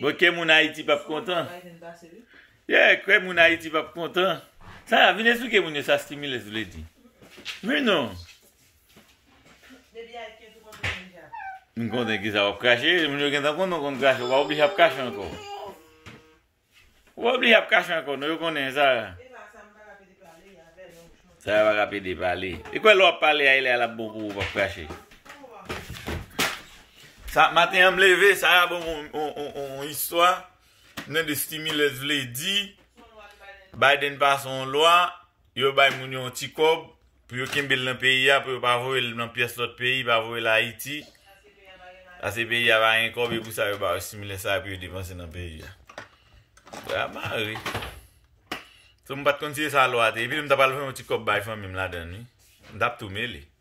Bon kè moun ayiti pap kontan. Yeah kè moun ayiti pap kontan. Sa vin esplike moun yo sa stimulus vle di. Men non. M konnen kisa wap krache, moun yo gentan konnen w konn krache, w pa oblije ap krache ankò. Ou pa oblije ap kache ankò non, yo konnen sa. Sa yo pa ka pede pale. Li kwè lè wap pale a elè a lap bon pou ou wap krache. Sa maten an m leve, sa a bon on istwa nan de stimulus vle di Biden pase on lwa Yo bay moun yo yon ti kòb pou yo kenbe l nan peyi a pou yo pa voye l nan pyès lòt peyi, pa voye l Ayiti, pase peyi a pa gen kòb e pou sa yo ba yo similè sa a pou yo depanse nan peyi a. Bagay a mare. So m pa t konn si e sa lwa te. Epi m ta pral voye yon ti kòb bay fanmi m ladan l wi. M t ap tou mele.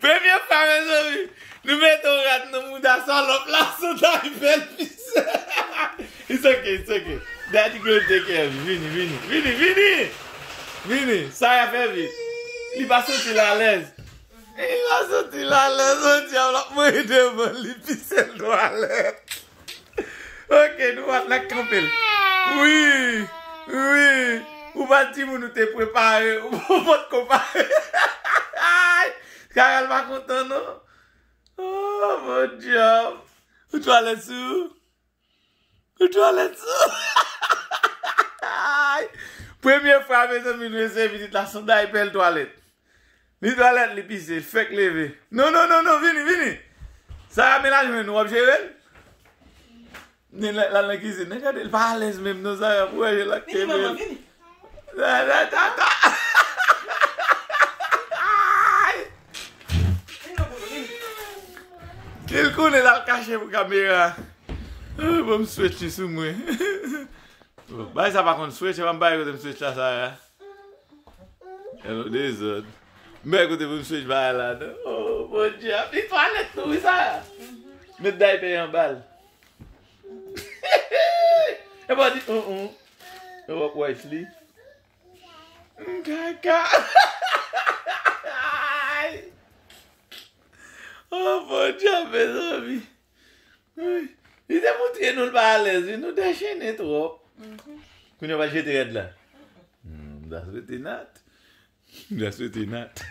Premye fwa mezanmi nou mete yon rad nan mouda salòp la sou tay bèl fise It's ok it's ok Daddy gonna take care of you vini vini vini vini vini Sara fè vit li pa santi l alèz li pa santi l alèz oh djab l ap manje devan li fise l twalèt. Ok nou wal nan kanpel. Wi wi ou pa di moun ou te prepare ou pot ko pare ayy Carel pa kontan non ooh bon job ou twalet sou ou ou twalet sou ou hahahaha ayy premye fwa mezanmi nou eseye vizit la sonday bèl twalet. Ni twalèt li pise, li fèk leve. Non non non non vini vini. Sara men la jwenn ou wap jere l. Ni lè lal nan kizin nan gade l pa alèz menm non Sara pou wè jan lap kenbe l. Ni l konnen lal kache pou kamera. Banm swèch li sou mwen. Bay sa pa konn swèch e banm bay kote m swèch la Sara. Yon lòt dezòd. Mè kote pou m switch bagay la non. Oh mon Dieu, ap li twalèt tou wi Sara. Met daypè anba l. Epi wap di uh uh. Epi wap wipe li. M kaka. Oh mon Dieu mezanmi. Li te moutre nou l pa alèz wi, nou dechene twòp. Kounye a w al jete rad la. M ta swete Nat. M ta swete Nat.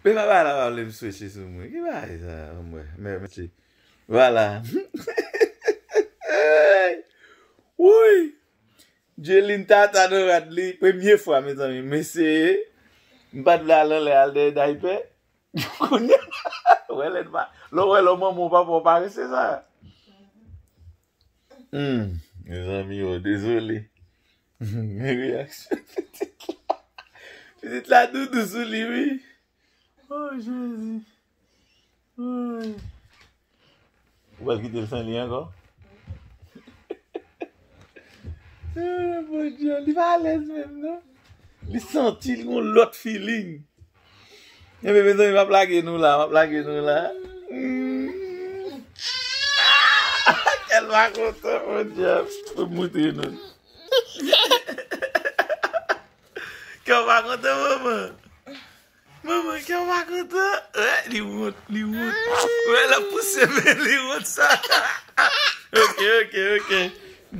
Men papa la pa vle m swete sou mwen. Ki bagay sa a anmwe. Men mesi. Vwala. Wouyy! Djelin tata nan rad li. Premye fwa mezanmi m eseye. M pa t vle al anlè al dèyè daypè. Kounye a, wè lè n pa, lè w wè lè w manman w papa w parese sa. Humm mezanmi oo dezole. Men reyaksyon pitit la. Pitit la doudou sou li wi. Oh Jezi. Ou pral kitel san li ankò? Eeh mon Dieu, li pa alèz menm non. Li santi li gon lòt feeling. Enben mezanmi map lage nou la, map lage nou la. Kèl pa kontan mon Dieu. Pou m moutre nou. Kè w pa kontan manman? Manman kèm pa kontan. Wè li wont li wont. Wè lap pouse men li wont sa. Ok ok ok.